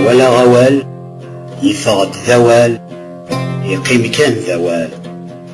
walaɣ awal yeffeɣ-d d awal yeqqim kan d awal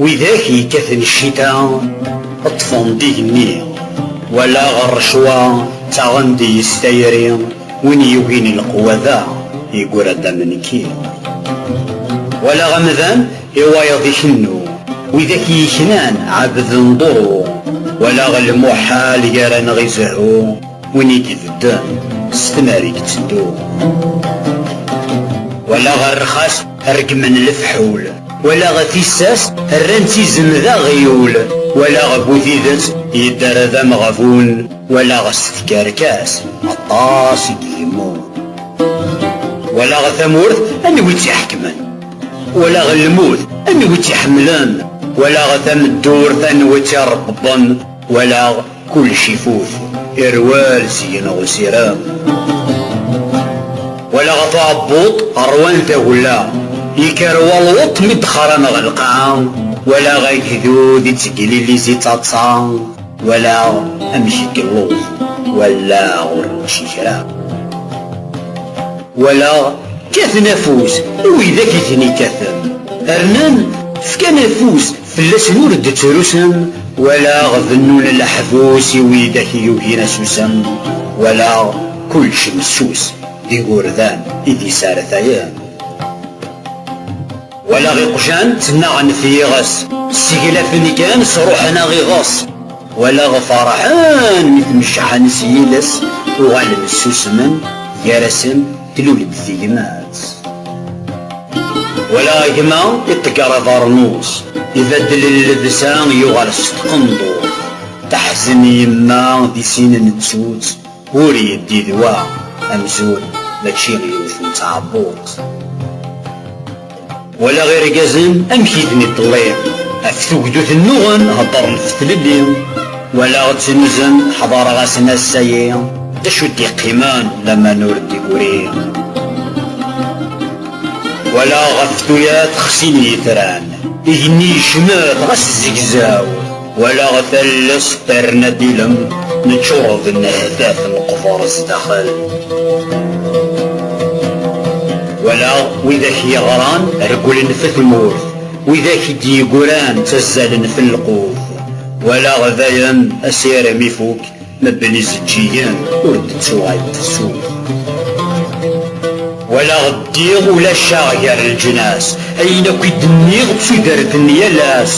Widak yekkaten ccita ṭṭfen-d igenni, walaɣ rrecwa ttaɣen-d yes tayri, win yugin leqwa da yeggura-d am nekki. Walaɣ amdan i wayeḍ ikennu, widak yeknan ɛebden ḍuru, walaɣ lmuḥal gar-aneɣ izehhu, win i ibedden s tmar i iteddu. Walaɣ rrxas. Reggmen lefḥul. Walaɣ tissas rran-tt izem d aɣyul. Walaɣ bu tidet yedder d ameɣbun. Walaɣ s tkerkas aṭas i d-yemmut. Walaɣ tamurt anwa i tt-iḥekmen. Walaɣ lmut anwa i tt-iḥemmlen. Walaɣ tameddurt anwa i tt-irebbḍen. Walaɣ. Kullec ifut, irwel seg-neɣ usirem. Wala ɣef uɛebbuḍ ṛwan tagella, yekker walweṭ mi d-xran ɣer lqaɛa, walaɣ agdud ittegliliz i ttaḍsa, walaɣ amek igelluḍ, wallaɣ ur nečči kra. Walaɣ kkaten afus i widak i ten-ikkaten, rnan fkan afus Fell-asen ur d-ttrusen. Walaɣ bennun leḥbus i widak i yugin asusem. Walaɣ kullec messus d igurdan i d-yesartayen. Walaɣ iqjan ttnaɣen f yiɣes. Sseglafen kan sruḥen aɣiɣes. Walaɣ ferḥen mi tmecḥen s yiles, uɣalen ssusmen gar-asen. Tlul-d tegmatt. Wala gma iṭegger abeṛnus. Ibeddel llebsa yuɣal s tqendurt. Taḥzen yemma di sin nettut. Ur yeddi d wa amzun mačči yiwet n tɛebbuṭ. Walaɣ irgazen amek i ten-iṭelli, ɣef tugdut nnuɣen heddren ɣef tlelli, walaɣ ttnuzen ḥdareɣ-asen ass-ayi, d acu d-iqqimen laman ur d-iguri. Walaɣ ɣef tuyat xsin yitran, igenni yecmet ɣas zegzaw, Walaɣ talles terna d ilem, neččur d nnehtat neqber sdaxel. Walaɣ widak yeɣran regglen f tmurt, widak i d-yeggran ttazzalen f lqut. Walaɣ dayen asirem ifuk. Mebben izeǧǧigen ur d-ttuɣal tefsut. Walaɣ ddiɣ ulac-aɣ gar leǧnas. Ayen akk i d-nniɣ d tudert n yal ass.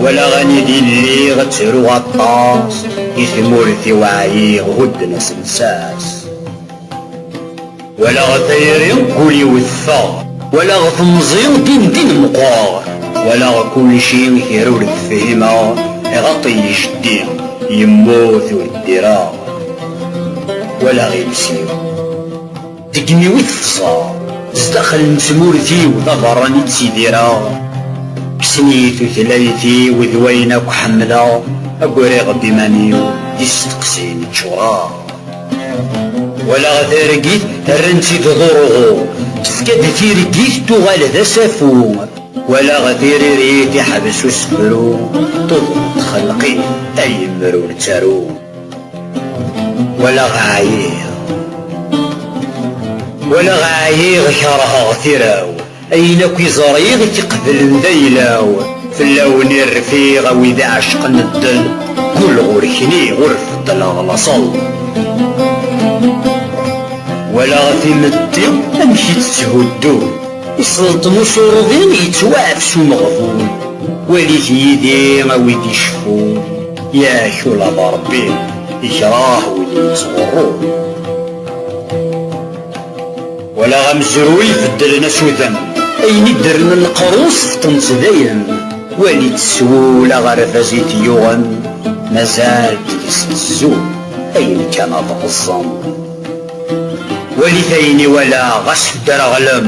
Walaɣ anidi lliɣ ttruɣ aṭas. I tmurt-iw ɛyiɣ hudden-as llsas. Walaɣ a tayri ul-iw teffeɣ. Walaɣ temẓi din din meqqreɣ. Walaɣ kulci kra ur t-fhimeɣ. Iɣaṭ yecdi, yemmut ur ddireɣ. Walaɣ iles-iw deg imi-w i tefẓeɣ. Zdaxel n tmurt-iw d aberran i ttidireɣ. Kksen-iyi tutlayt-iw d wayen akk ḥemmleɣ. Agriɣ-d iman-iw d isteqsiyen ččureɣ. Walaɣ targit rran-tt i tḍurɣu, tefka-d tireggit tuɣal d asafu. Walaɣ tiririt iḥbes usefru, tuḍen txelqi ay imru ur nettaru. Walaɣ ɛyiɣ, walaɣ ɛyiɣ kerheɣ tira-w. Ayen akk i ẓriɣ i k-iqeblen d ayla-w, fell-awen i rfiɣ a wid iɛecqen ddel, ggul ɣur-kni ur beddleɣ laṣel. Walaɣ timetti amek i tt-tthuddun, iselṭen usurḍi yettwaɛfes umeɣbun, walit yid-i a wid iceffun, yak ula d Rebbi ikreh win yettɣurrun. Walaɣ amezruy beddlen asudem. Ayen i d-rnan lqerru sefṭen-tt dayen. Wali-tt s wul aɣerbaz i t-yuɣen. Mazal deg-s tzul, ayen kan ad ɣeẓẓen. Walit ayen i walaɣ, ɣas ddreɣlem.